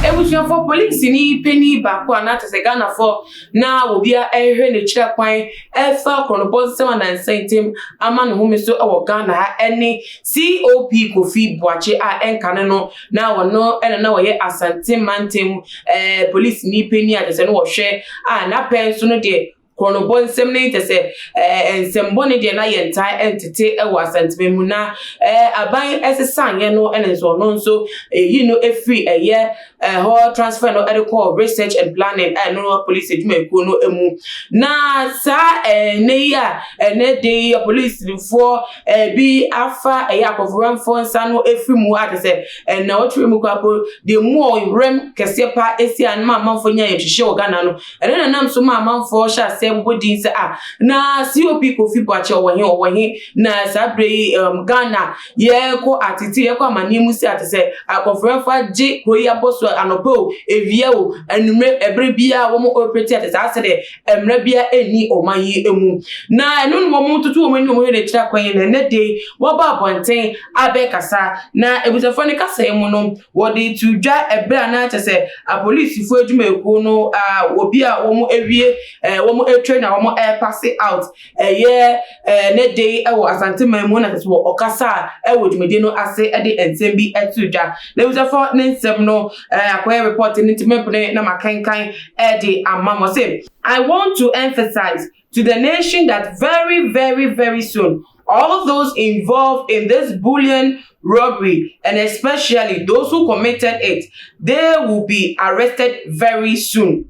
Ebusuafo, polisini panyin baako a na kyerɛ sɛ Ghanafoɔ na obiara rehwɛ n'akyiri kwan refa akɔnnɔbɔ nsɛm anansa yi ntam ama ne home so wɔ Ghana ha ne COP Kofi Boakye a ɛnka ne no Na ɔno na na ɔyɛ Asante mantam eh, polisini panin a kyerɛ sɛ no wɔhwɛ a n'apɛ nso no deɛ korɔnobɔ nsɛm ne kyerɛ sɛ eh, nsɛmbɔne deɛ na yɛntaa ntete wɔ Asanteman mu na eh, aban ɛsesaeɛ no ɛna nso ɔno nso ɛyi no ɛfiri ɛyɛ ɛhɔ eh, transfer no ɛde kɔɔ research and planning a ɛno no polisi adwumakuo no mu na saa ɛnɛ yi a ɛnɛ de yɛ polisifoɔ Ebi afa ɛyɛ akɔferɛmfoɔ nsa no afiri mu a kyerɛ sɛ nnawɔtwe mu koraa mpo deɛ mu a ɔwerɛm kɛseɛ paa ɛsi a no ma amanfoɔ nya ayɛtwehyeɛ wɔ Ghana no ɛno na nam so ma amanfoɔ hyɛ aseɛ bobɔ din sɛ ah na COP Kofi Boakye ɔwɔ he ɔwɔ he na saa berɛ yi um Ghana yɛkɔ atete yɛkɔ amaneɛ mu si a kyerɛ sɛ akɔferɛmfoɔ agye kuro yi abɔ so anɔpa o awia o anwummerɛ ɛberɛ biara wɔn operate a kyerɛ sɛ asɛ deɛ mmara biara nni ɔman yi mu. Na ɛno na wɔtoto wɔn anim a wɔyɛ no akyiri akwan yi, na ɛnnɛ da yi wɔaba abɔnten abɛkasa. Na abusuafoɔ no kasa yi mu no, wɔde too dwa ɛberɛ a na kyerɛ sɛ apolisifoɔ adwumayɛkuo no, obi a wɔawie wɔatwa no a wɔrepase out. Ɛyɛ ɛnnɛ da yi wɔ Asante man mu na sɛ wɔ ɔkasa a wɔ dwumadi no ase de nsɛm bi to dwa. N'abusafo ne nsɛm no akɔyɛ report no nti mɛpene na makenkan de ama mo. Ɔse. I want to emphasize to the nation that very very very soon all those involved in this bullion robbery and especially those who committed it they will be arrested very soon.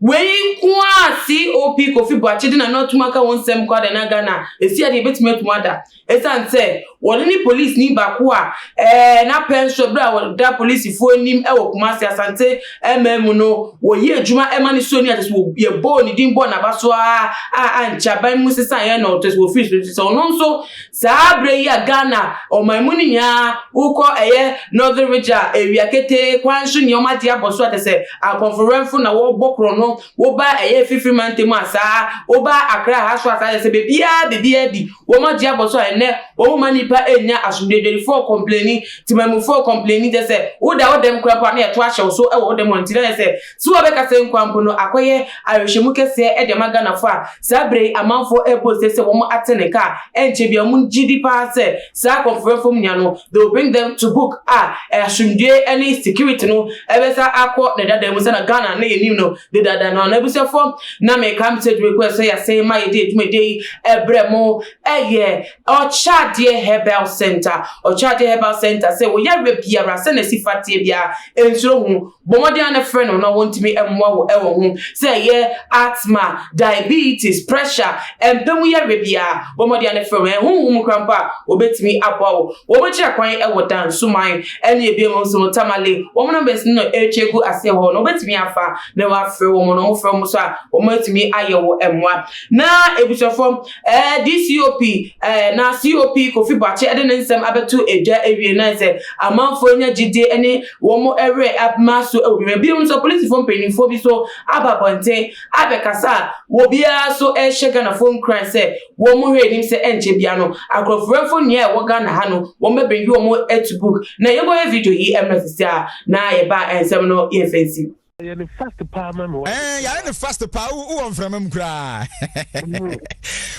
Wei nko ara a COP Kofi Boakye de n'ano atom aka ho nsɛm mpo ada na Ghana asi ade a ebetumi atom ada esiane sɛ wɔde ne polisini baako a ɛɛ na pɛnsoro bere a ɔda polisifo anim wɔ Kumasi Asante man mu no wɔyɛ adwuma ma ne so ni a kyerɛ sɛ wɔbɔɔ ne din bɔɔ n'aba so ara a ankyɛ aban mu sesaeɛ na ɔkyerɛ sɛ wɔfiri so nso sɛ ɔno nso Saa berɛ yi a Ghana ɔman mu no nyinaa wokɔ ɛyɛ Northern Ridge a awia ketee kwan so nni wɔn ade abɔ so a kyerɛ sɛ akɔnforoɛmfo na wɔbɔ korɔno woba ɛyɛ afifiri mantam a saa woba Accra ha so a saa kyerɛ sɛ baabiara baabiara di wɔn ade abɔ so a ɛnnɛ wɔn mma nnipa nnya asomdwoe adwadifoɔ kɔmpleni, temanmufoɔ kɔmpleni kyerɛ sɛ woda wo dɛm koraa mpo a na yɛto ahyɛ wo so wɔ wo dɛm hɔ nti na ayɛ sɛ So wɔbɛka sɛ Nkwampo no akɔyɛ awerɛhyɛmu kɛseɛ de ama Ghanafoɔ a saa berɛ yi amanfoɔ rebɔ ose sɛ wɔn ate ne nka a ɛnkyɛ biara wɔn gye di pa ara sɛ saa akɔmfoyɛ fam nua no they will bring them to book a asomdwoeɛ ne security no bɛsa akɔ ne dada mu sɛ na Ghana na yɛnim no dedaada no an'abusuafoɔ na meka me sɛ dwumakuo a ɛsɛ yɛ ase ma yɛde adwumadie yi brɛ mo ɛyɛ Ɔkyɛadeɛ Herbal Centre Ɔkyɛadeɛ Herbal Centre sɛ wo yareɛ biara sɛ na ɛsi fa teɛ biara nsuro ho Bɔ mmɔden ara na frɛ no na wɔntumi mmoa wo wɔ ho, sɛ ɛyɛ Asthma, Diabetes, Pressure, mpa mu yareɛ biara, bɔ mmɔden ara na frɛ wɔn. Ɛyɛ honhom mu kora mpo a, wɔbɛtumi aboa wo. Wɔkyerɛ kwan wɔ Dansoman ne ebinom nso no, Tamale, wɔn numbers no na ɛretwa agu aseɛ wɔ hɔ no, wobɛtumi afa na woafrɛ wɔn na wɔfrɛ wɔn nso a, wɔatumi ayɛ wo mmoa. Na abusuafoɔ, Ɛɛ DCOP ɛɛ na COP Kofi Boakye ɛde ne nsɛm abɛto dwa ɛwie naɛ sɛ amanfoɔ anya gyidie ɛne wɔn ɛwerɛ abma so ɛwɔ bim. Ɛbinom nso polisifoɔ mpaninfoɔ bi so aba abɔnten abɛkasa a wɔbiara so ɛɛhyɛ Ghanafoɔ nkuran sɛ wɔn mo hwɛ anim sɛ ɛnkyɛ biara no akorɔforanfoɔ nua a ɛwɔ Ghana ha no wɔn bɛ bringi wɔn ɛto book na yɛbɔ yɛ video yi ɛmmerɛ sisi a na yɛba ɛnsɛm no yɛ fɛnsi. Yɛ no fast paa ma me. Ɛɛ yɛ no fast paa wo wɔ mframa mu koraa.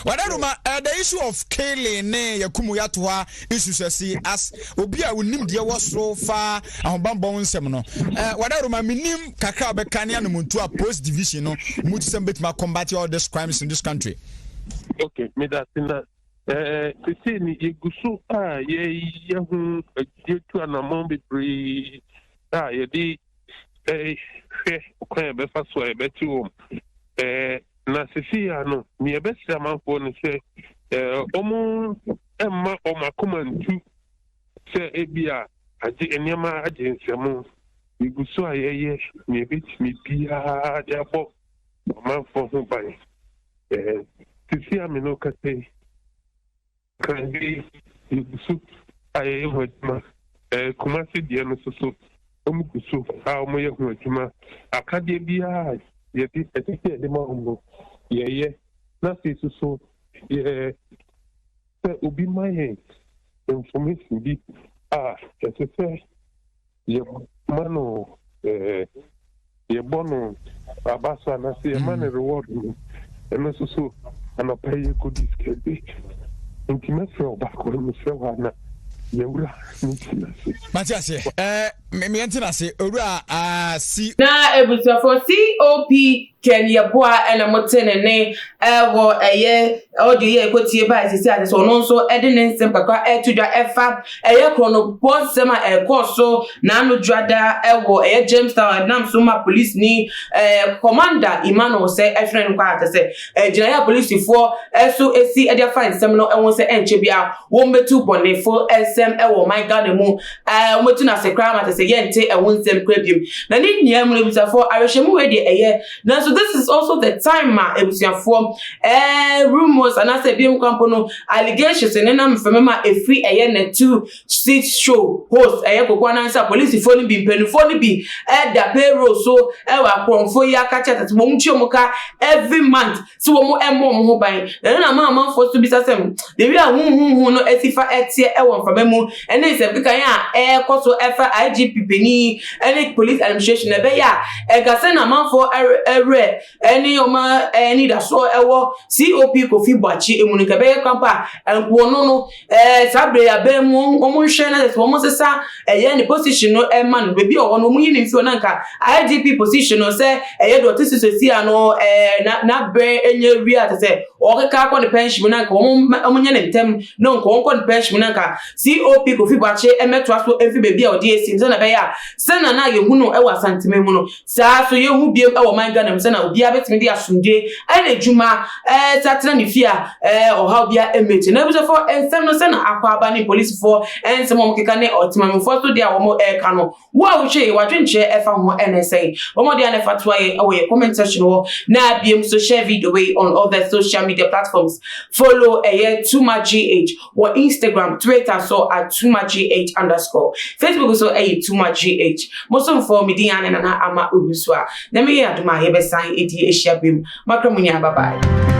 Wɔda no ma eh, the issue of killing ne yɛkumu yɛato hɔ isu sɛsi as obi a wonim deɛ wɔ so fa ahobammɔ ho nsɛm no. Eh, wɔda no ma menim kakra wobɛka ne anomontu a post division no mu te sɛ mbɛtumi combat all these crimes in this country. Okay, meda se na eh, sesei ne yɛgu so a yɛyɛ ho yɛtu anammɔn bebree a yɛde hwɛ kwan a ɛbɛfa so a ɛbɛte wɔn. Na sisi ya no, nea ɛbɛsrɛ amanfoɔ no sɛ wɔn mma wɔn akoma ntu sɛ ebi a agye nneɛma agye nsɛm. Yɛgu so a yɛyɛ nea ɛbɛtumi biara de abɔ amanfoɔ ho ban. Sisi ya me no kasa yi. Kande yɛgu so a yɛyɛ ho adwuma ɛɛ Kumasi deɛ no so so wɔn gu so a wɔn yɛ ho adwuma akadeɛ biara yɛde ɛsɛ sɛ yɛde ma wɔn no yɛyɛ na afei so so yɛ sɛ obi ma yɛn information bi a ɛsɛ sɛ yɛma no eh, yɛbɔ no abasa na sɛ yɛma no mm. reward no ɛno nso so anɔpa yi yɛkɔdi sika bi nti mɛfrɛ wo baako no mefrɛ wo ana yɛwura mentena ase mate ase eh, meɛntena ase owura ah, si na abusuafoɔ cop Ken Yeboah na mo te ne ne wɔ ɛyɛ audio yɛ ɛkɔ tie baa sisi ase so ɔno nso ɛde ne nsɛm kakra ɛto dwa ɛfa ɛyɛ kronobɔ nsɛm a ɛkɔ so na ano dwada ɛwɔ ɛyɛ Jamestown ɛnam so ma polisi ni ɛɛ commander Emmanuel sɛ ɛhwene no kɔ a sɛ ɛgyina yɛ polisifoɔ ɛso ɛsi ɛde afa nsɛm no ɛho sɛ ɛnkyɛ bia wɔn bɛtu bɔnefo nsɛm ɛwɔ ɔman Ghana mu Ɛɛ, wɔatu no ase koraa ma kyerɛ sɛ yɛnte ɛho nsɛm koraa biom. Na ne nyinaa mu no, abusuafoɔ, awerɛhyɛmu wei deɛ ɛyɛ, nanso this is also the time ma abusuafoɔ ɛɛ rumours anaasɛ ebinom koraa mpo no allegations nenam mframa mu a ɛfiri ɛyɛ na two seat show host ɛyɛ koko anan sɛ apolisifoɔ no bi mpanimfoɔ no bi ɛda payroll so ɛwɔ akorɔmfoɔ yi aka kyerɛ sɛ wɔn tua wɔn ka every month sɛ wɔmmɔ wɔn ho ban, na ɛno na ama amanfoɔ nso bisa sɛ, Baabi a huhuhuhu no asi fa teɛ wɔ mframa mu ne nsɛmkekaeɛ a ɛrekɔ so fa IGP panin ne Police Administration na ɛbɛyɛ a ɛnka sɛn na amanfoɔ werɛ ne wɔn anidasoɔ wɔ COP Kofi Boakye mu no, nka ɛbɛyɛ kwan pa a anka wɔn no Ɛɛ saa bere yi abɛn mu wɔn nhwɛ na sɛ wɔn sesa ɛyɛ ne position no ɛma no beebi a ɔwɔ no wɔn yi ne nsuo na nka IGP position no sɛ ɛyɛ deɛ ɔte so sɛsi ano ɛɛ na n'abere ɛnyɛ wie a sɛ ɔkeka akɔ ne pension mu na nka wɔn wɔn nyɛ ne ntɛm na nka wɔn kɔ ne pension mu na nka COP Kofi Boakye ɛmɛtoa so ɛmfi beebi a ɔde ɛsi sɛ na ɛbɛyɛ a sɛ na na yɛhu no ɛwɔ Asanteme mu no Saa ara nso, yɛhu bio wɔ ɔman Ghana mu sɛnea obiara betumi de asomdwoe ayɛ n'adwuma sɛ atena ne fie a ɔhaw biara mmɛn akyi. N'abusuafo nsɛm no sɛ na akwaaba ne polisifo nsɛm a wɔkeka ne ɔtemammufo nso de a wɔreka no, wo a wohwɛ yi, w'adwenkyerɛ fa ho ne sɛn? Bɔ mmɔden ara na fa toa yɛn wɔ yɛn comment section hɔ, na bio nso share video wei on all the social media platforms, follow ɛyɛ TooMuchGH. Wɔ Instagram, Twitter so at TooMuchGH underscore. Facebook so ɛyɛ TooMuchGH. Mo somfoɔ, me din ane Nana Ama Owusu a. Nyame yɛ adom a yɛbɛsan adi ahyia bem. Makra mo nyinaa bye bye.